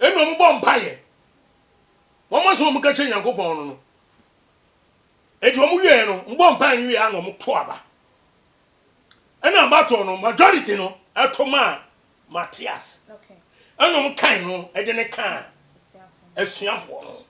Nna wɔbɔ mpaeɛ, wɔn asɛm a wɔka kyerɛ Nyankopɔn no no, enti wɔn wieɛ no, wɔbɔ mpaeɛ no wieɛ na wɔto aba. Ɛna aba toɔ no, majority no ɛto maa Matias, ɛna wɔn kan no ɛde no kaa asuafoɔ no.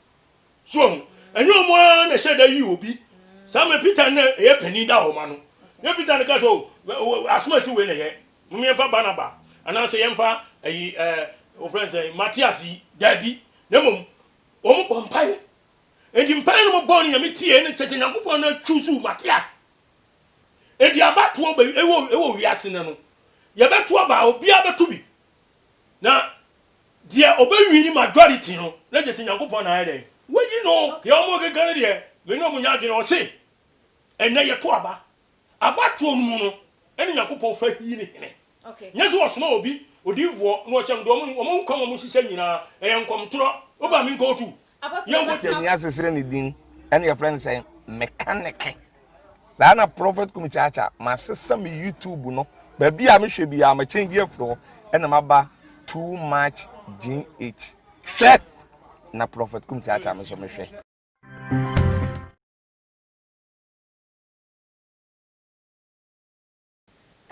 So wahu? Ɛnyɛ wɔn ara na ɛhyɛ da yi obi saa mmerɛ Peter na ɛyɛ panin daa wɔn ano. Nyɛ Peter na ɛka sɛ, O, asomasi wei na ɛyɛ, momma yɛmfa Barnaba anaasɛ yɛmfa ayi, ɛɛ, wɔfrɛ no sɛn, Matias yi. Daabi. Na mmom, wɔbɔ mpaeɛ. Enti mpaeɛ no wɔbɔɔ no Nyame tiee, ɛna kyerɛ sɛ Nyankopɔn na choosuu Matias. Enti abatoɔ bɛ, ɛwɔ, ɛwɔ wiase nnɛ no, yɛbɛto aba a, obiara bɛto bi. Na deɛ ɔbɛ wini majority no na gyesi Nyankopɔn na ayɛ dɛn wayi no. Deɛ ɔmo keka no deɛ me ne ɔmo nyɛ adwene ɔse ɛnɛ yɛto aba aba toɔ no mu no ɛne Nyankopɔn fa hii ne hene nyɛ sɛ ɔsoma obi odiyifoɔ na ɔkyɛ no deɛ ɔmo ɔmo nkwa ɔmo hyehyɛ nyinaa ɛyɛ nkɔmtorɔ woba me nkɔ otu Yɛni asesere ne din ɛna yɛfrɛ no sɛ mekaneke saa na prɔfɛt kumi kyaakya masesa me youtube no baabi a mehwɛ bi a makyɛngye afiri hɔ ɛna maba too much gh hwɛ na prɔfɛt kumi kyaakya me so mehwɛ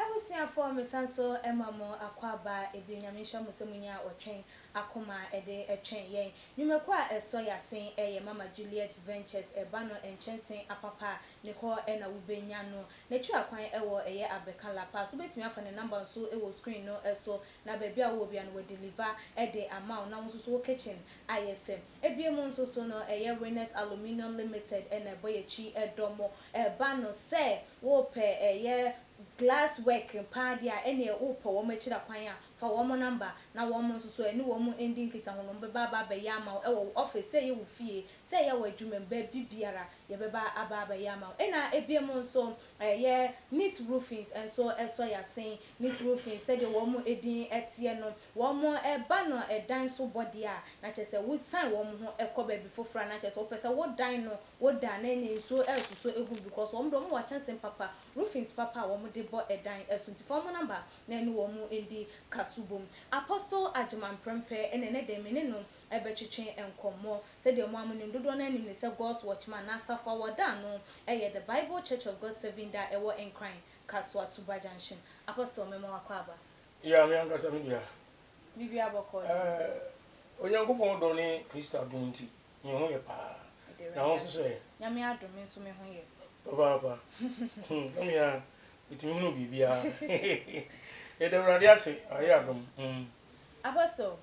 Abusuafoɔ mesan so ma mo akwaaba bio Nyame nhyira mo sɛ monya ɔtwɛn akoma de twɛn yɛn nnwumakuo a ɛsɔ y'asen ɛyɛ Mama Juliet Ventures ɛba no nkyɛnse apapa a ne hɔ na wo bɛ nya no n'akyiri akwan wɔ ɛyɛ Abeka La Paz wo bɛtumi afa ne number nso wɔ screen no so na baabi a wo wɔ bia no wa deliver de ama wo na wo nso so wo kitchen ayɛ fɛ ebiem nso so no ɛyɛ Winners Aluminium Limited na ɛbɔ y'akyi dɔ mo. ɛba no sɛ wopɛ ɛyɛ glass work paa deɛ a ɛneɛ wopɛ wɔn akyira kwan a fa wɔn number na wɔn nso so ɛne wɔn ndi nkitaho no bɛba aba abɛyɛ ama wo ɛwɔ wo office sɛ ɛyɛ wo fie sɛ ɛyɛ wɔ adwuma mu baabi biara yɛbɛba aba abɛyɛ ama wo ɛna ɛbiam nso ɛyɛ neat roofings nso ɛsɔ yasen neat roofings sɛdeɛ wɔn ɛdin ɛteɛ no wɔn ɛba no ɛdan so bɔ deɛ a na kyerɛ sɛ wo sign wɔn ho ɛkɔ baabi foforɔ a na kyerɛ sɛ wopɛ sɛ wo dan no wo dan ne ne nsuo resosɔ egu no because wɔn deɛ wɔn wɔ kyɛnsee papa, roofings papa a wɔn de bɔ ɛdan so nti fa wɔn number na ɛne wɔn ndi kaso bom. Apostle Agyemang Prempeh ɛna ɛnɛ dɛm me ne no ɛbɛtwetwe nkɔmmɔ. Sɛdeɛ mo a mo nim dodoɔ no ara nim no sɛ God's Watchman na asafo a wɔda ano ɛyɛ The Bible Church of God Seventh Day a ɛwɔ Nkran, Kasoa, Tuba Junction. Apostle me ma wakɔ aba. Yeah me ankasa me deɛ a. Biribiara bɔkɔɔ deɛ. Eh Onyankopɔn dɔ ne Christ adom nti. Me ho yɛ paa. Na wo nso so ɛ? Nyame adom me nso me ho yɛ. Papaapa. Na me a, metumi hunu biribiara. Yɛda Awurade ase, wayɛ adom. Apostle,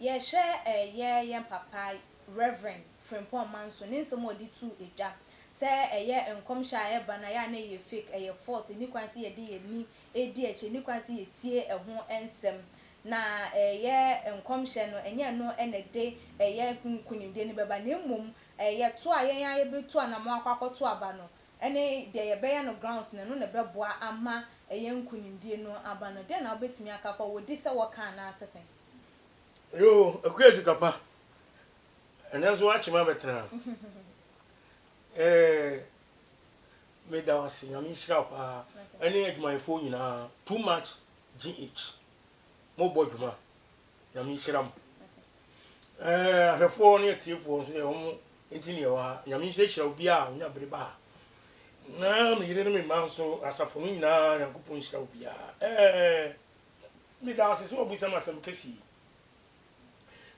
yɛhwɛ ɛyɛ yɛn papa Rev. Frimpong Manso ne nsɛm a ɔde too edwa sɛ ɛyɛ nkɔmhyɛ a ɛreba no a, ɛyɛ a na ɛyɛ fake, ɛyɛ false, ɛnni kwan sɛ yɛde yɛn ani redi akyi, ɛnni kwan sɛ yɛtie ɛho nsɛm. Na ɛyɛ nkɔmhyɛ no, ɛnyɛ ɛno na ɛde ɛyɛ nkonimdie no bɛba, na mmom yɛto a yɛn ara yɛbɛtu anamɔn akɔ akɔto aba no, ne deɛ yɛbɛyɛ no grounds no, ɛno na ɛbɛboa ama ɛyɛ nkonimdie no aba no. Dɛn na wobɛtumi aka afa ho? Wɔdi sɛ wɔka anaasɛ sɛn? Yoo, Akua sika pa, ɛnnɛ nso woakyem abɛtena ha. Eeh, meda wo ase, Nyame nhyira wo paa, ɛne adwumayɛfoɔ nyinaa, too much GH, mo bɔ dwuma. Nyame nhyira mo. Ɛɛ ahwɛfoɔ ne atiefoɔ nso deɛ wɔn nti ne ɛwɔ ha. Nyame nhyira hyira obiara a onya bere ba ha. Na me yere ne me mma nso asafo no nyinaa Nyankopɔn nhyira obiara. Ɛɛ meda ase sɛ wabisa me asɛm kɛse yi.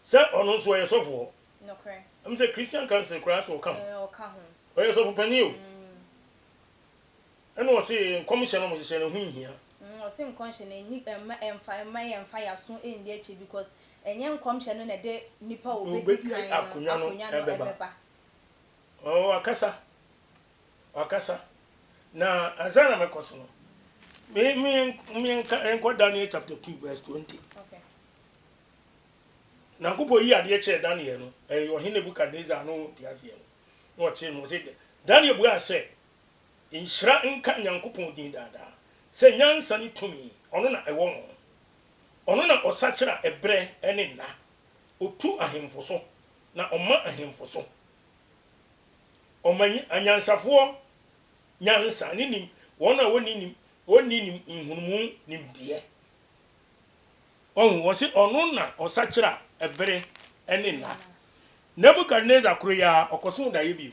Sɛ ɔno nso ɔyɛ sɔfoɔ. Nokorɛ. Ɛm sɛ Christian Council koraa sɛ ɔka ho. Ɛɛ ɔka ho. Ɔyɛ sɔfo panin o. Mm. Ɛna ɔse nkɔmhyɛ no ɔmo hyehyɛ no ɛho nhia. Mm ɔse nkɔnhyɛ no ɛnyi ɛmma ɛnfa ɛmma yɛn nfa yaso ɛndi akyire because ɛnyɛ nkɔmhyɛ no na ɛde nipa ɔbɛdi kan no akonwa no ɛbɛba. Oh wakasa wakasa na ansa na mɛkɔ so no me me me nka nkɔ Daniel chapter two verse twenty. Okay. Nyankopɔn yi adeɛ kyerɛ Daniel no ɛyɛ ɔhene Nebukadnesar no ntiaseɛ no na ɔkyerɛ no ɔse Daniel buaa sɛ Nhyira nka Nyankopɔn din daa daa, sɛ nyansa ne tumi, Ɔno na ɛwɔ ho. Ɔno na Ɔsakyera ɛberɛ ne nna, Ɔtu ahemfo so, na Ɔma ahemfo so. Ɔma anyansafoɔ nyansa, ne nim, wɔn a wɔnni nim, wɔnni nim nhunumu nimdeɛ. Wahu, wɔse, Ɔno na Ɔsakyera ɛbere ne nna. Nebukadnesar koro yi ara, ɔkɔsoo daeɛ bio.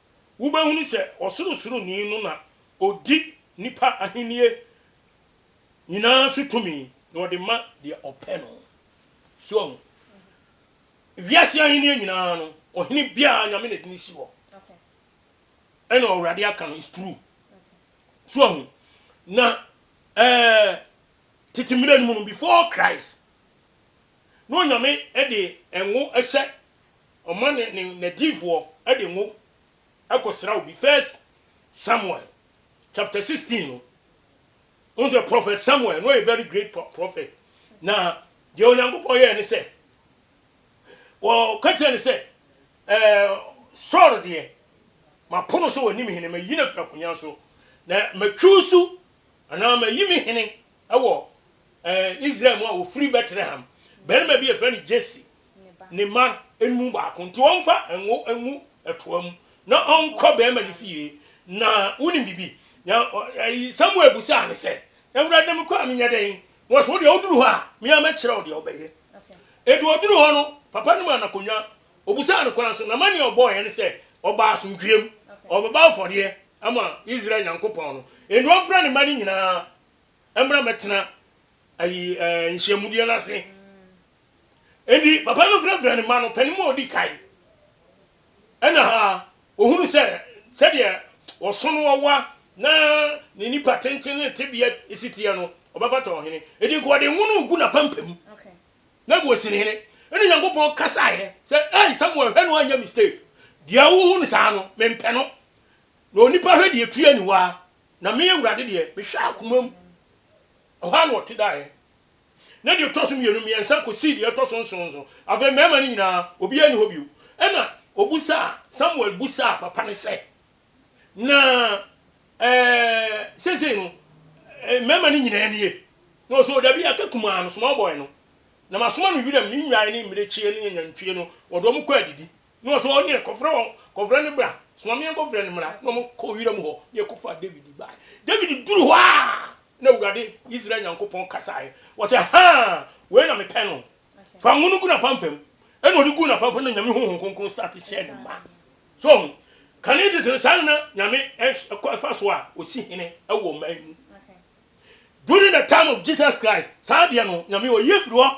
wobɛhunu sɛ Ɔsorosoroni no na ɔdi nnipa ahennie nyinaa so tumi, na ɔde ma deɛ ɔpɛ no. So wahu? Wiase ahennie nyinaa no, ɔhene biara Nyame na ɛde no si hɔ. Ɛna Awurade aka no, it's true. So wahu? Na eh, tete mmerɛ no mu no, before Christ, na Onyame de ngo hyɛ ɔma ne ne nadiyifoɔ de ngo kɔ sra obi first Samuel chapter 16 no wohu sɛ prophet Samuel na ɔyɛ very great prophet na deɛ Onyankopɔn yɛɛ ne sɛ wɔka kyerɛ ne sɛ ɛɛ Saul deɛ mapono sɛ wɔnim hene mayi no afiri akonya so na matwusu anaa mayi me hene Wɔ Israel mu a wɔfiri Bɛtlehem, barima bi a yɛfrɛ no Jesse ne mma no mu baako, nti ɔmfa ngo ngu toa mu na ɔnkɔ barima no fie, na wonim biribi? Na Samuel bisaa no sɛ, Awurade, na mekɔ a menyɛ dɛn? Na ɔsɛ, Wo deɛ, woduru hɔ a, me ara mɛkyerɛ wo deɛ wobɛyɛ. Enti ɔduru hɔ no, papa no maa no akonnwa, ɔbisaa no kwan so, na amanneɛ a ɔbɔeɛ ne sɛ, ɔbaa asomdwoeɛm, ɔrebɛbɔ afɔdeɛ ama Israel Nyankopɔn no, enti wɔmfrɛ ne mma no nyinaa mmra mmɛtena ayi ɛɛ eh, nhyiamudeɛ no ase enti papa no frɛfrɛ ne mma no panin mu a ɔdi kan ɛna ha ohunu sɛ sɛdeɛ ɔso no ɔwa na ne nipa tenten ne tebea si teɛ no ɔbɛfata ɔhene enti nka ɔde nwono gu n'apampam na gu osi ne hene ɛna nyankopɔn kasaeɛ sɛ ɛi samuel hwɛ no anyɛ mistake deɛ wohu no saa no mempɛ no na onipa hwɛ deɛ tua niwa Na me, Awurade deɛ, mehwɛɛ akoma mu. Ɛhɔ ara na ɔte daeɛ. Na deɛ ɛtɔ so mmienu, mmiɛnsa kɔsii deɛ ɛtɔ so nson nso, afei mmarima no nyinaa, obiara nni hɔ bio. Ɛnna ɔbisaa, Samuel bisaa papa no sɛ, Na ɛɛ, seesei no, mmarima no nyinaa nie? Na ɔsɛ, O dabi, aka kumaa no, small boy no, na masoma no wiram nnwan ne mmirekyie ne anantwie no, wɔde wɔn kɔ adidi. Na ɔse wɔn deɛ kɔfrɛ wɔn, kɔfrɛ no bra, soma me yɛnkɔfrɛ no mmra. Na wɔn kɔɔ wiram hɔ na yɛkɔfaa Dawid baeɛ. Dawid duru hɔ a, na Awurade, Israel Nyankopɔn kasaeɛ, ɔse, Haa! Wei na mepɛ no. Fa ngo no gu n'apampam. Ɛna ɔde guu n'apampam na Nyame Honhom Kronkron starte hyɛɛ no ma. So woahu? Kane tete no, saa na na Nyame fa so a ɔsi hene wɔ ɔman mu. During the time of Jesus Christ, saa deɛ no, Nyame ɔyi afiri hɔ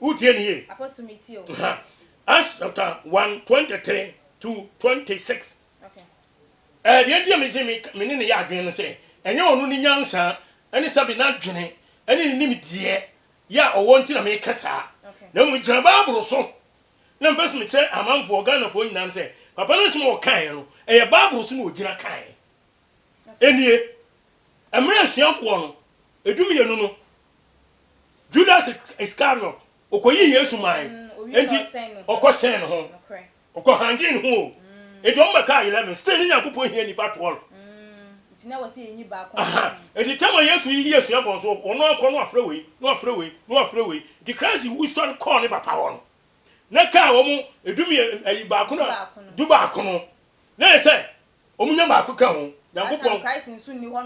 Wotie no yie? Apostle metie o. Aha. Acts chapter one twenty three to twenty six. Okay. Ɛɛ deɛ nti a mese me me ne ne yɛ adwene no sɛ ɛnyɛ ɔno ne nyansa ɛne sɛbe n'adwene ɛne ne nimdeɛ yɛ a ɔwɔ nti na meka saa. Okay. Na mmom megyina Bible so na mpɛ so mekyerɛ amanfoɔ Ghanafoɔ nyinaa no sɛ papa no asɛm a ɔkaeɛ no ɛyɛ Bible so na ɔgyina kaeɛ. Okay. Ɛnie mmerɛ asuafoɔ no ɛdu mmienu no Judas Iskariot, ɔkɔyii Yesu mae, enti ɔkɔsɛn ne ho, ɔkɔhangee ne ho o, enti wɔn bɛkaa eleven, still ne Nyankopɔn hia nnipa twelve, aha, enti tam a Yesu yiyi asuabɔ nso wɔn ara kɔ na wɔafrɛ wei, na wɔafrɛ wei, na wɔafrɛ wei, enti Christ wusɔre kɔɔ ne Papa hɔ no, na ɛkaa wɔn du mmiɛ, ɛyi baako no, du baako no, na ɛyɛ sɛ Wɔn nya baako ka ho. Nyankopɔn, Christ nso nni hɔ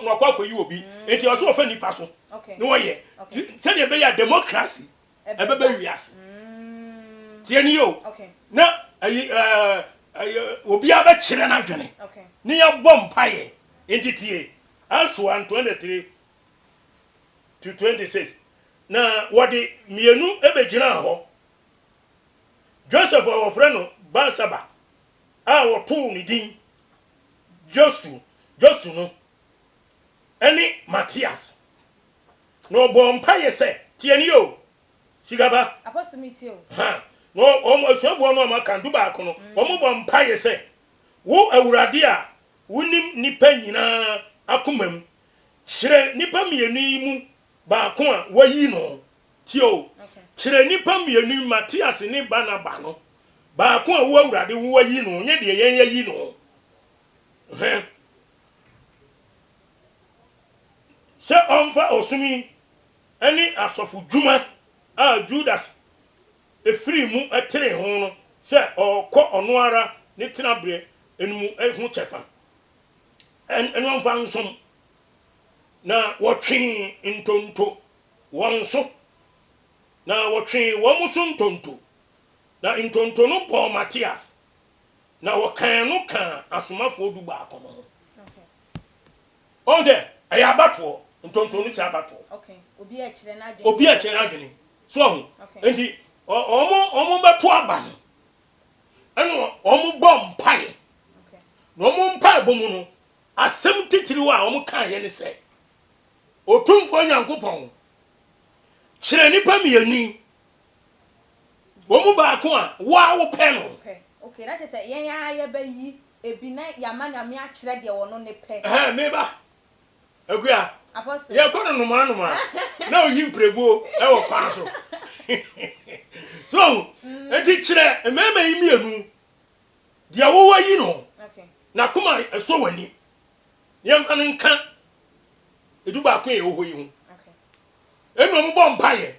na wakɔ akɔyi obi. Enti ɛwɔ sɛ wɔfa nnipa so na wɔyɛ. Sɛdeɛ ɛbɛyɛ a democracy ɛbɛba wiase. Tie nie o, na obiara bɛkyerɛ n'adwene na yɛabɔ mpaeɛ. Enti tie, Acts 1:23-26, Na wɔde mmienu bɛgyinaa hɔ, Joseph a wɔfrɛ no Barsaba, a wɔtoo ne din Justo, Justo no ne Matias, na ɔbɔɔ mpaeɛ sɛ, Tie nie o, sika ba. Apostle me tie o. Ha, na wɔn asuafoɔ no a wɔaka, dubaako no, wɔbɔ mpaeɛ sɛ, Wo Awurade a wonim nnipa nyinaa akomam, kyerɛ nnipa mmienu yi mu baako a woayi no Tie o, kyerɛ nnipa mmienu yi, Matias ne Barnaba no, baako a wo Awurade wo ayi no, nyɛ deɛ yɛn yɛayi no. Hwɛ, sɛ ɔmfa ɔsom yi ne asɔfo dwuma a Judas firii mu teree ho no sɛ ɔrekɔ ɔno ara ne tenaberɛ no mu ho kyɛfa, ɛno mfa nsom. Na wɔtwee ntonto wɔn so, na wɔtwee wɔn so ntonto, na ntonto no bɔɔ Matias, na wɔkan no kaa asomafoɔ dubaako no ho. Wɔn sɛ, ɛyɛ abatoɔ, ntonto no kyerɛ abatoɔ. Obi a ɛkyerɛ n'adwene. Obi a ɛkyerɛ n'adwene. So ahu? Nti, wɔn, wɔn bɛto aba no, ɛna wɔn bɔ mpae. Na wɔn mpaebɔ mu no, asɛm titiriw a wɔn kaeɛ ne sɛ. Otumfoɔ Nyankopɔn kyerɛ nnipa mmienu yi, wɔn mu baako a wo ara wopɛ no. Pɛ. Okay, na kyerɛ sɛ yɛn ara yɛbɛyi ebi na yɛama Nyame akyerɛ deɛ ɔno ne pɛ. Ɛhɛɛ, me ba Akua, Apostle. yɛkɔ no nnomaa nnomaa na oyi mpirebuo wɔ kwan so. So woahu? Enti kyerɛ mmarima yi mmienu deɛ wowɔ yi no, Okay. n'akoma sɔ w'ani. nneɛma no nka edu baako a ɛwɔ hɔ yi ho ɛnna wɔn bɔ mpaeɛ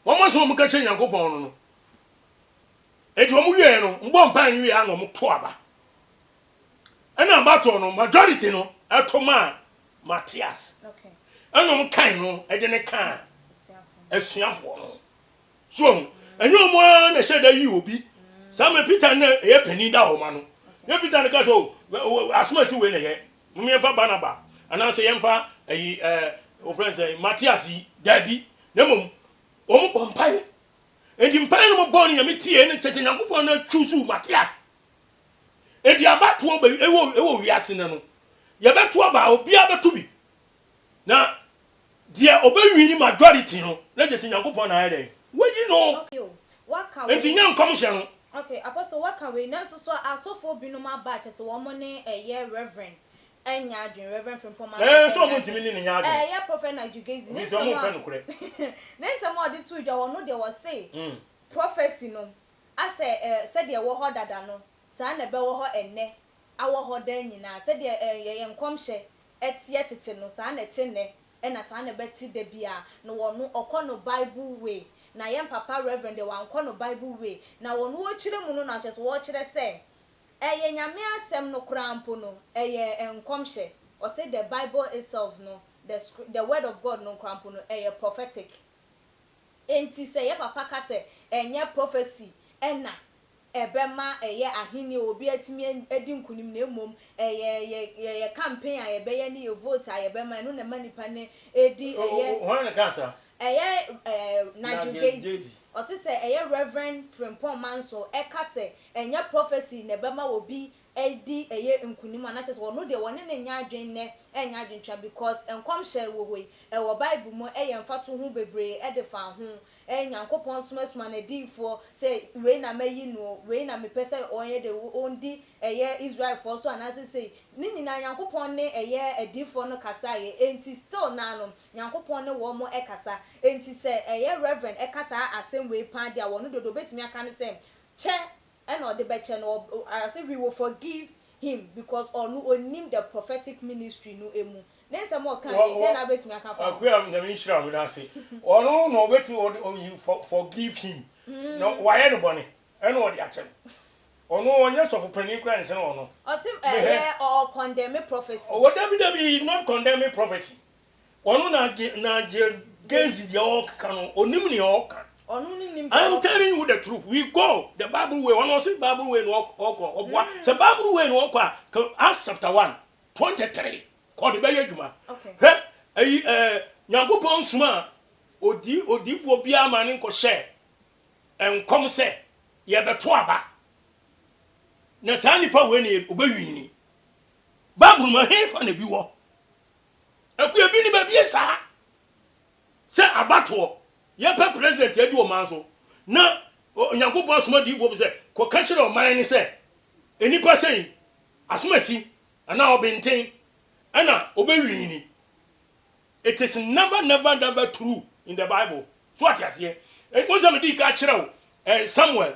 wɔn nso wɔn ka kyerɛ nyankopɔn no no eti wɔn wieɛ no wɔn bɔ mpaeɛ no wieɛ na wɔn to aba ɛnna abatoɔ no majority no ɛto maa matias ɛnna wɔn kan no ɛde ne kan asuafoɔ no. So wahu? Ɛnyɛ wɔn ara na ɛhyɛ da yi obi. Saa mmerɛ Peter no na ɛyɛ panin daa wɔn ano. Nyɛ Peter na ɛka sɛ, o, asomasi wei na ɛyɛ, mom yɛmfa Barnaba, anaasɛ yɛmfa ayi, ɛɛ, wɔfrɛ no sɛn, Matias yi. Daabi. Na mmom, wɔbɔ mpaeɛ. Enti mpaeɛ no wɔbɔɔ no Nyame tiee, na kyerɛ sɛ Nyankopɔn na choosuu Matias. Enti abatoɔ bɛ, ɛwɔ, ɛwɔ wiase nnɛ no, yɛbɛto aba a, obiara bɛto bi. Na deɛ ɔbɛ wini majority no na gyesi Nyankopɔn na ayɛ dɛn? Wayi no. Okay o, waka wei. Enti nyɛ nkɔmhyɛ no. Okay, Apostle waka wei, nanso so asɔfoɔ binom aba a kyɛsɛ wɔn ne ɛyɛ Reverend ɛnyɛ adwene, Reverend Frimpong Martin ɛnyɛ adwene. Ɛɛ so wɔn ntumi ne no nyɛ adwene. Ɛɛ ɛyɛ Prophet Nigel Gaisley ne nsɛm a. Wɔn mpɛ nokorɛ. Ne nsɛm a ɔde too dwa, ɔno deɛ ɔse. Mm. Prophecy no, asɛ ɛɛ sɛdeɛ ɛwɔ hɔ dada no, saa na ɛbɛwɔ hɔ ɛnnɛ, awɔ hɔ daa nyinaa, sɛdeɛ ɛɛ yɛyɛ nkɔmhyɛ ɛteɛ tete no, saa na ɛte nnɛ, ɛna saa na ɛbɛte da biara. Na wɔno ɔkɔ no Bible way, na yɛn papa Reverend deɛ wankɔ no Bible way. Na wɔno ɔrekyerɛ mu no na kyerɛ sɛ ɔrekyerɛ sɛ ɛyɛ Nyame asɛm no koraa mpo no, ɛyɛ nkɔmhyɛ. Ɔse the Bible itself no, the scri the word of God no koraa mpo no, ɛyɛ prophetic. Enti sɛ yɛn papa ka sɛ ɛnyɛ prophecy ɛna. ɛbɛma ɛyɛ ahenni a obi atumi adi nkonim na mmom ɛyɛ yɛ yɛ campaign a yɛbɛyɛ ne yɛ vote a yɛbɛma ɛno na ɛma nnipa no di ɛyɛ Oh, hwan na ɛkaa saa? ɛyɛ eh, Nigel Nigel Gaize. Gaize. Ɔse sɛ ɛyɛ Reverend Frimpong Manso ɛka sɛ ɛnyɛ prophecy na ɛbɛma obi adi ɛyɛ nkunim a na kyerɛ sɛ wɔno deɛ wɔne no nyɛ adwen nnɛ ɛnyɛ adwentwa because nkɔmhyɛ wɔ hɔ yi ɛwɔ bible mu ɛyɛ mfato ho bebree ɛde fa ho ɛɛ Nyankopɔn nso asuma nadiyifoɔ sɛ wei na mayi no o wei na mepɛ sɛ ɔyɛ dɛ o ɔndi ɛyɛ Israelfoɔ so anaasɛ sei ne nyinaa Nyankopɔn ne ɛyɛ adiyifoɔ no kasaeɛ enti still naa no Nyankopɔn ne wɔn mo ɛkasa enti sɛ ɛyɛ Rev ɛka saa asɛm wei paa deɛ a wɔno dodo ɔbɛtumi aka ne sɛ kyɛ Ɛna ɔde bɛkyɛ no as if we will forgive him because ɔno ɔnim the prophetic ministry no ɛmu. Ne nsɛm a ɔkaeɛ yi dɛn na wobɛtumi aka afa ho? Akua Nyame nhyira wo nase. Ɔno na ɔbɛtumi ɔde ɔ you for forgive him na wayɛ no bɔne ɛna ɔde akyɛ no. Ɔno ɔnyɛ sɔfo panin koraa nsene ɔno. Ɔte ɛyɛ ɔ condemn prophecy. Ɔwɔ dabi dabi he is not condemning prophecy Ɔno na agye na agye gezi deɛ ɔkeka no onim nea ɔka. Ɔno ne nim. I'm telling you the truth we go the bible way ɔno ɔsi bible way na ɔkɔ ɔboa mm. sɛ bible way na ɔkɔ a ka Acts chapter one twenty three kɔ de bɛyɛ adwuma hwɛ ɛyi ɛɛ eh, nyankopɔn nsoma a odi odiifoɔ biara ma ne nkɔhyɛ nkɔm sɛ yɛbɛto aba na saa nipa wei na ɔbɛwini bible mu ɛhefa na bi wɔ. Akua bi ne babie saa sɛ abatoɔ yɛpɛ president adi ɔman so na Onyankopɔn asoma diifoɔ bi sɛ kɔ ka kyerɛ ɔman no sɛ nnipa sɛi asomasi anaa ɔbenten ɛna ɔbɛ wiini it is never never never true in the bible so ate aseɛ wohu sɛ mede ka kyerɛ wo eh, Samuel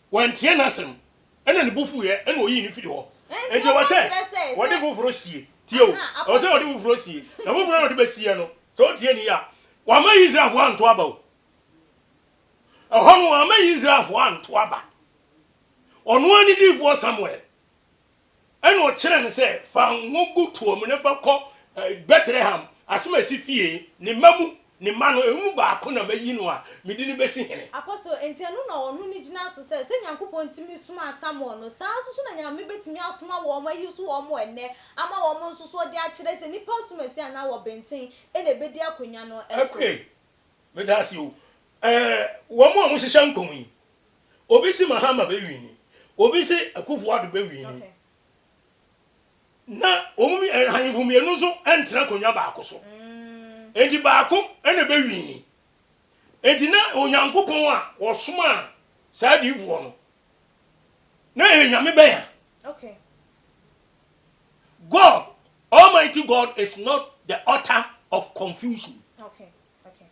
Wantie n'asɛm, ɛnna ne bo fuiɛ, ɛnna ɔyii no firii hɔ. Enti ɛwɔ sɛ wɔde foforɔ sie. Tie o, ɛwɔ sɛ wɔde foforɔ sie. Na foforɔ a wɔde bɛsieɛ no, sɛ wotie no yie a, wɔamma Israelfoɔ anto aba o. Ɛhɔ no, wɔamma Israelfoɔ anto aba. Ɔno ara ne diyifoɔ Samuel. Ɛnna ɔkyerɛɛ no sɛ, Fa ngo gu toa mu na fa kɔ Betlehem, asom a ɛsi fie, ne mma mu, ne mma no, wɔn mu baako na mayi no a mede no bɛsi hene. Apostle, enti ɛno na ɔno no gyina so sɛ, sɛ Nyankopɔn tumi somaa Samuel no, saa ara nso so na Nyame bɛtumi asoma wɔn, ayi so wɔn ɛnnɛ, ama wɔn nso so de akyerɛ sɛ nnipa asumasi anaa wɔ benten na ɛbɛdi akonwa no so. Apuei, meda ase o, ɛɛ, wɔn a wɔhyehyɛ nkɔm yi, Obi se Mahama bɛ wini, obi se Akuffo Addo bɛ wini, na wɔn ahemfo mmienu nso ntena akonnwa baako so. Enti baako na bɛ wini. Enti na Onyankopɔn a wɔsomaa saa adiyifoɔ no, na ɛyɛ Nyame bɛn a? Okay. God, Almighty God is not the author of confusion. Okay. Okay.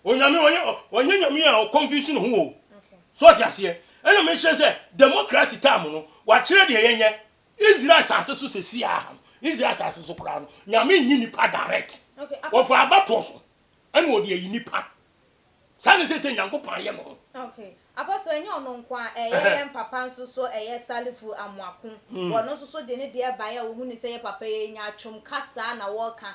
Onyame ɔnyɛ ɔnyɛ nyame a ɔ convince ne ho o. So ɔte aseɛ? Ɛna mekyerɛ sɛ democracy term no wakyerɛ deɛ yɛnyɛ. Israel asase so sɛsi a ha no, Israel asase so koraa no, nyame nyi nipa direct. Ɔfa abatoɔ so ɛna ɔde ayi nipa. Saa ne sɛsɛ Nyankopɔn ayɛ ne ho. Okay. Apostle, ɛnyɛ ɔno nko a, ɛyɛ yɛn papa nso so, ɛyɛ Salifu Amoako. Ɔno nso so de ne deɛ baeɛ a ɔhunuu sɛ yɛ papa yi anya atwam kasa na wɔreka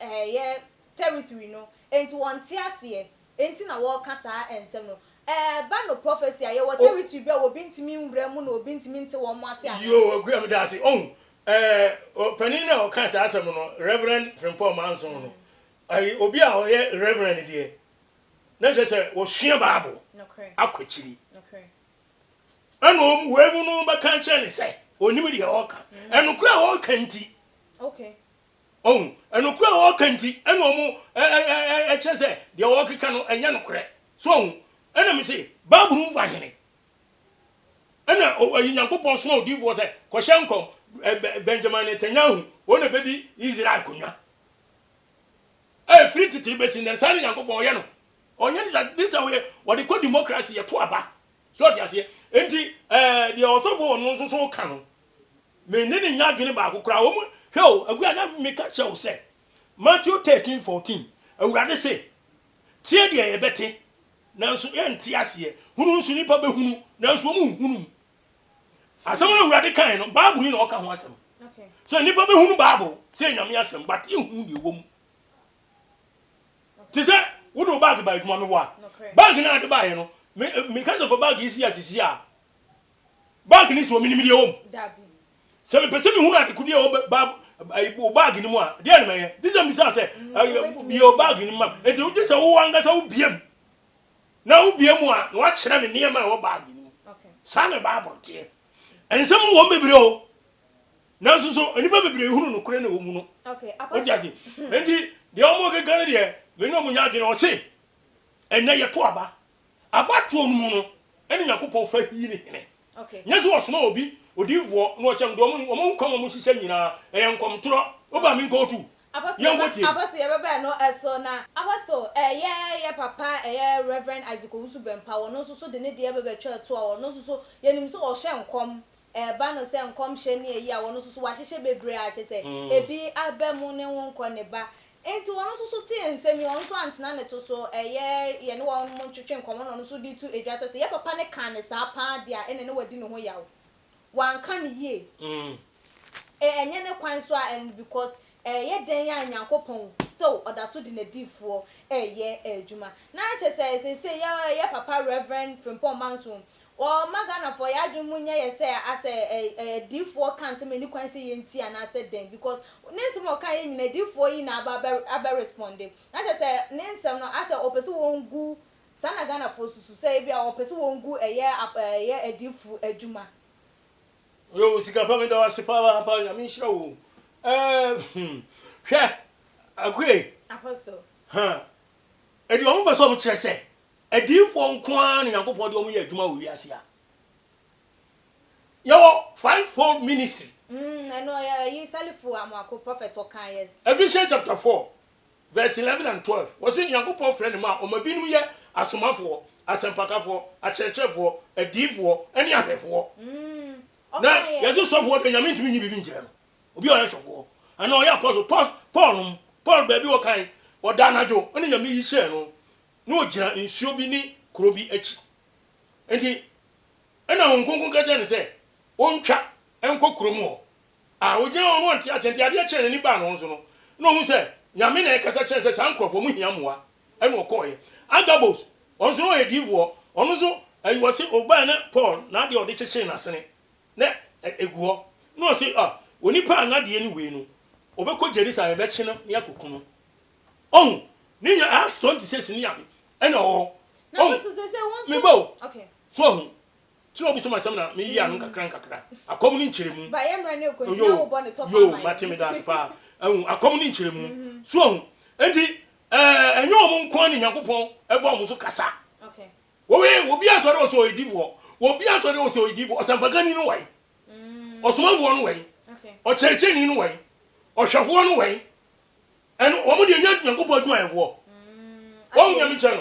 Ɛyɛ territory no nti wɔnte aseɛ nti na wɔka saa nsɛm no. Ɛba no prophecy a yɛwɔ territory bi a obi ntumi nwura mu na obi ntumi nte wɔn ase anaa? Yoo Akua medase ohu eh panin no a ɔka saa asɛm no Reverend Frimpong Manson no ɛyɛ obi a ɔyɛ Reverend deɛ na kyerɛ sɛ ɔsua bible akɔ akyiri ɛna ɔmu wei mu no bɛka akyerɛ no sɛ ɔnim deɛ ɔreka ɛnokorɛ a ɔreka nti. Ohu? Nokorɛ a wɔka nti ɛna ɔmo kyerɛ sɛ deɛ wɔkeka no ɛnyɛ nokorɛ. So ohu? Ɛna mese, Bible no mu fa hene? Ɛna Nyankopɔn soma odiyifoɔ sɛ, Kɔhyɛ nkɔm, Benjamin Netanyahu, wɔn na bɛdi Israel akonwa. Ɛfiri tete bɛsi nnɛ no, saa na Nyankopɔn ɔyɛ no. Ɔnyɛ ne saa, this time wɔde kɔ democracy, yɛto aba. So ɔte aseɛ? Nti deɛ ɔsɔfoɔ wɔ no nso so ka no, Me ne no nnya adwene baako koraa wɔ mu. Hwɛ o, Aguya, na meka kyerɛ wo sɛ, Matthew thirteen fourteen, Awurade se, Tie deɛ yɛbɛte, nanso yɛnte aseɛ, hunu nso nnipa bɛhunu, nanso wɔnhunu mu. Asɛm no a Awurade kae no, Bible-ni na ɔka ho asɛm. Sɛ nnipa bɛhunu Bible sɛ ɛyɛ Nyame asɛm, but yɛnhunu deɛ ɛwɔ mu. Te sɛ wode wo bag ba adwuma, meboa. Bag no a de baeɛ no, me, meka sɛ fa bag yi si asisi a, Bag no si hɔ, menim deɛ ɛwɔ mu. Dabi. Sɛ mepɛ sɛ mehunu adekode a ɛwɔ ba ayi wo bag no mu a, deɛ na mɛyɛ. Gye sɛ mbisaa sɛ, Mm, ɛyɛ wobɛtumi bie wo ahu. bag no ma me. Enti wogye sɛ wo ankasa wobie mu. Na wobie mu a, na woakyerɛ me nneɛma a ɛwɔ bag no mu. Ok. Saa na Bible teɛ. Nsɛm wɔ mu bebree o, nanso nso nnipa bebree hunu nokorɛ no a ɛwɔ mu no. Ok, Wote Apostle. ase? Enti deɛ wɔkeka no deɛ, me ne wɔn nyɛ adwene. Ɔse, Ɛnnɛ yɛto aba. Abatoɔ no mu no ɛna Nyankopɔn fa hii ne hene. Nyɛ sɛ ɔsoma obi odiyifoɔ na ɔkyɛ no, deɛ wɔn nkwa mu a wɔhyehyɛ nyinaa ɛyɛ nkɔmtorɔ. Woba me nkɔɔ tu. Yɛnkɔ tie. Apostle yɛ bɛbɛ no so na. Apostle ɛyɛ yɛ papa ɛyɛ Rev Isaac Owusu Bɛmpa ɔno nso so de ne deɛ bɛbɛ twaa tu a ɔno nso so yɛnim sɛ ɔhyɛ nkɔm ɛba no sɛ nkɔmhyɛ ne ayi a wɔn nso so wɔahyehyɛ bebree a kyerɛ sɛ ebi aba mu ne wo nkɔ ne ba. Enti wɔn nso so tee nsɛm yi, wɔn nso antena ne to so. Ɛyɛ yɛne wɔn ntwetwe nkɔmmɔ na wɔn nso de to dwa sɛ, sɛ yɛn papa no kaa no saa pa ara de a, ɛnna na wadi ne ho yaw. Wanka no yie. Ɛnyɛ ne kwan nso a ɛno because ɛyɛ dɛn a Nyankopɔn still ɔda so de n'adiyifoɔ reyɛ adwuma. Na kyerɛ sɛ seesei yɛn papa Rev. Frimpong Manso, Wɔmma Ghanafoɔ yɛ adwene mu nyɛ yɛ sɛ asɛ ɛ ɛ diifoɔ ka nsɛm ɛni kwan sɛ yɛ nti anaasɛ dɛn because ne nsɛm a ɔkaeɛ nyinaa diifoɔ yi na aba abɛ responde na kyerɛ sɛ ne nsɛm no asɛ ɔpɛ sɛ wɔn gu saa na Ghanafoɔ susu sɛ ebi a ɔpɛ sɛ wɔn gu ɛyɛ ap ɛ yɛ adiifo adwuma. Yoo sika pa meda wo ase paa paa nyame nhyira wo eh hmm hwɛ Akue Apostle. huh enti wɔn pɛ sɛ wɔn kyerɛ sɛ Adiyifoɔ nko ara na Nyankopɔn de wɔn yɛ adwuma wɔ wiase ha. Yɛwɔ five fold ministry. Mm ɛno ɔyɛ ɛyi Salifu Amoako prophet ɔkaa yɛ. Ephesians chapter four verse eleven and twelve wɔsi Nyankopɔn frɛ ne mma a ɔma binom yɛ asomafoɔ, asɛmpakafoɔ, akyerɛkyerɛfoɔ, adiyifoɔ ɛne ahwɛfoɔ. Mm Na ɔkaa yɛ. yɛsi sɔfoɔ deɛ Nyame ntumi nyi biribi nkyerɛ no, obi a ɔyɛ sɔfoɔ anaa ɔyɛ apostle, Paul, Paul nom, Paul baabi ɔkae ɔda anadwo ɛna Nyame yi hyɛɛ no na ogyina nsuo bi ne kuro bi akyi. Enti ɛna Honhom Kronkron ka kyerɛɛ no sɛ ɔntwa nkɔ kuro mu hɔ. A Ɔgyina hɔ no ɔnte aseɛ, nti adeɛ kyɛɛ n'ani baa ne ho so no, na ɔhu sɛ Nyame na ɛrekasa kyerɛ no sɛ saa nkurɔfoɔ ɔmo hia mmoa, ɛna ɔkɔɔeɛ. Agabos, ɔno nso na ɔyɛ diifoɔ, ɔno nso ɛyi wɔse ɔbaeɛ na Paul n'adeɛ a ɔde kyekyee n'asene na ɛgu hɔ, na ɔse ah onipa a n'adeɛ ne wei no, ɔbɛkɔ Jerusalem, yɛbɛkye no na yɛakɔku no. Ɔhu, ne nya ɛha strong te sɛ sini abi ɛna ɔwɔ hɔ. Ɔhu, me ba o, so ɔhu, ti na ɔbusam asɛm na me yi ano nkakra nkakra, akɔm ne nkyerɛmu, yoo, yoo, mate me daase paa, ahu, akɔm ne nkyerɛmu, so ɔhu, enti ɛɛ, ɛnyɛ wɔn nko ara na Nyankopɔn ɛba wɔn so kasa, wɔwɛ, wɔbi asɔre ɔsɛ ɔyɛ difoɔ, wɔbi asɔre ɔsɛ ɔyɛ difoɔ, ɔsɛmpakani no wɛn, ɔsomafoɔ no wɛn, ɔkyerɛkyerɛni no wɛn, ɔhwɛfoɔ no wɛn, ɛno wɔn deɛ nyɛ nyankopɔn adwuma yɛ hoɔ wɔn nyame kyɛ no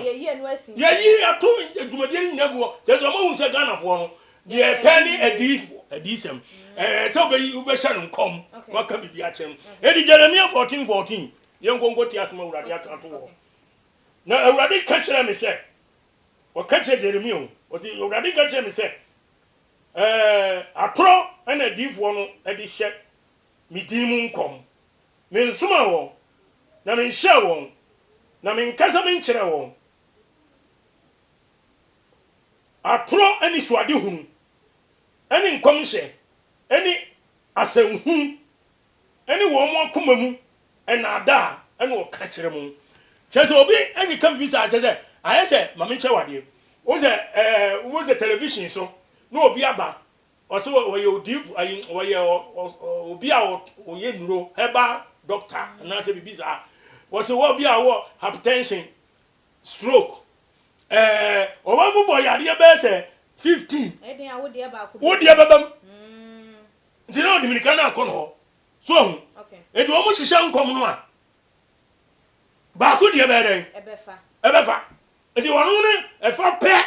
yɛyi ato dwumadie no nyina gu hɔ kyɛ sɛ ɔmahu sɛ ghanafoɔ no deɛ ɛpɛ ne adiifoɔ adiisɛm sɛ wobɛhyɛ no nkɔm waka biribi akyɛ no ɛdi jeremia 14 14 yɛnkɔnkɔ ti asɛm awurade aka to hɔ na awurade ka kyerɛ me sɛ ɔka kyerɛ jeremia o ɔti awurade ka kyerɛ me sɛ atorɔ ɛna adiifoɔ no ɛde hyɛ me din mu nkɔm. Mensomaa wɔn, na menhyɛɛ wɔn, na menkasa menkyerɛɛ wɔn atorɔ anisoadehunu ne nkɔmhyɛ ne asɛnhunu ne wɔn akoma mu nnaadaa na wɔka kyerɛ mo. Kyerɛ sɛ obi ne ka biribi saa, kyerɛ sɛ ayɛ sɛ ma menkyerɛ wo adeɛ. Wohu sɛ, eh, wohu sɛ television so na obi aba Ɔse ɔyɛ odiyifo ayi ɔyɛ obi a ɔyɛ nnuro herbal doctor anaasɛ biribi saa ɔse wɔ bi a wɔ hypertension stroke ɛɛ ɔma mu bɔ yadeɛ bɛyɛ sɛ fifteen ɛdin a wodeɛ baako wodeɛ bɛbam nti na ɔde mirika no akɔ no hɔ so ahu nti wɔn hyehyɛ nkɔm no a baako deɛ bɛyɛ dɛn ɛbɛfa ɛbɛfa nti wɔn no ɛfa pɛ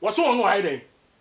wɔso wɔn no ayɛ dɛn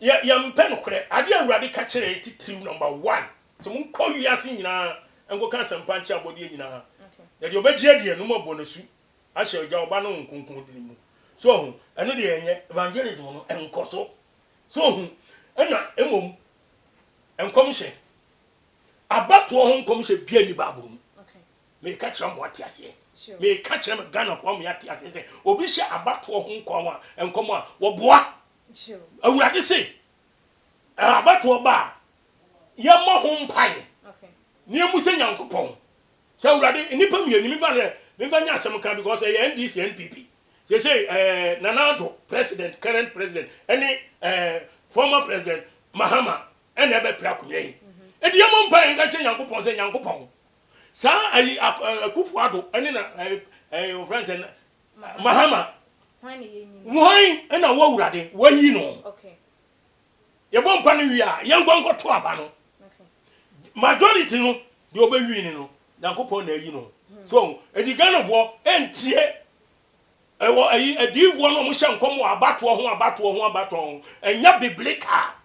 Yɛ yɛmpɛ nokorɛ. Adeɛ a Awurade ka kyerɛɛ titiriw number one sɛ monkɔ wiase nyinaa nkɔka asɛmpa nkyerɛ abɔdeɛ nyinaa na deɛ ɔbɛgye adie no moabɔ no asu ahyɛ Agya, Ɔba ne Honhom Kronkron din mu. So ɔho? Ɛno deɛ ɛnyɛ evangelism no nkɔso. So ɔho? Ɛna mmom nkɔmhyɛ, abatoɔ ho nkɔmhyɛ biara nni Bible mu. Meka kyerɛ mo ate aseɛ. Meka kyerɛ me Ghanafoɔ ama yɛate aseɛ sɛ obi hyɛ abatoɔ ho nkɔm a nkɔm a wɔboa Awurade se, abatoɔ ba a, yɛmmɔ ho mpaeɛ na yɛmmu sɛ Nyankopɔn sɛ Awurade nnipa mmienu memfa no memfa nyɛ asɛm ka because ɛyɛ NDC NPP seesei ɛɛ Nana Addo president current president ɛne ɛɛ former president Mahama ɛna ɛbɛpere akonnwa yi ɛdi yɛmmɔ mpaeɛ nka kyɛ Nyankopɔn sɛ Nyankopɔn saa ayi Akufo Addo ɛne na ɛɛ ɛɛ wɔfrɛ no sɛ Mahama, hwan na wo Awurade wayi no? Yɛbɔ mpa no wie a, yɛnkɔ nkɔto aba no. Majority no, deɛ ɔbɛwin no no, Nyankopɔn na ayi no. Hmm. So, ɛdi Ghanafoɔ ɛntie ɛwɔ ɛyi adiifoɔ no ɔmo hyɛ nkɔm wɔ abatoɔ ho abatoɔ ho abatoɔ ho ɛnyɛ biblical.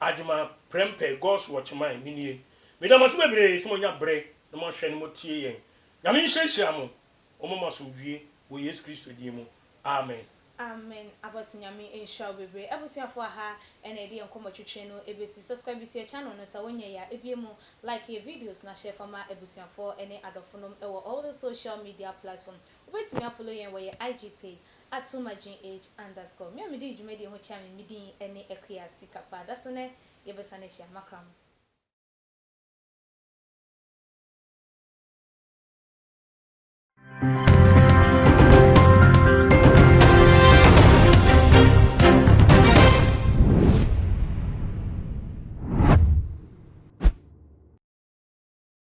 Adwuma prɛmpɛ God's watch mine me nie. Meda mo ase bebree sɛ monya berɛ na mohwɛ na motie yɛn. Nyame nhyira nhyira mo. Ɔmma mo asomdwie wɔ Yesu Kristo din mu. Amen. Amen Apostle Nyame nhyira wo bebree. Abusuafoɔ aha na yɛde yɛn nkɔmmɔ twetwe no bɛsi. Subscribe to yɛn channel no sɛ wonyɛeɛ a ɛbue mu, like yɛn videos na share fa ma abusuafoɔ ne adɔfonom wɔ all the social media platform. Wobɛtumi a follow yɛn wɔ yɛn IG page Atumah-Jean-H. Underscore, me a midii dwumadie ho kyea me me din ne Akua Sika paa da so nɛ yɛ bɛ sane ahyia makra mo.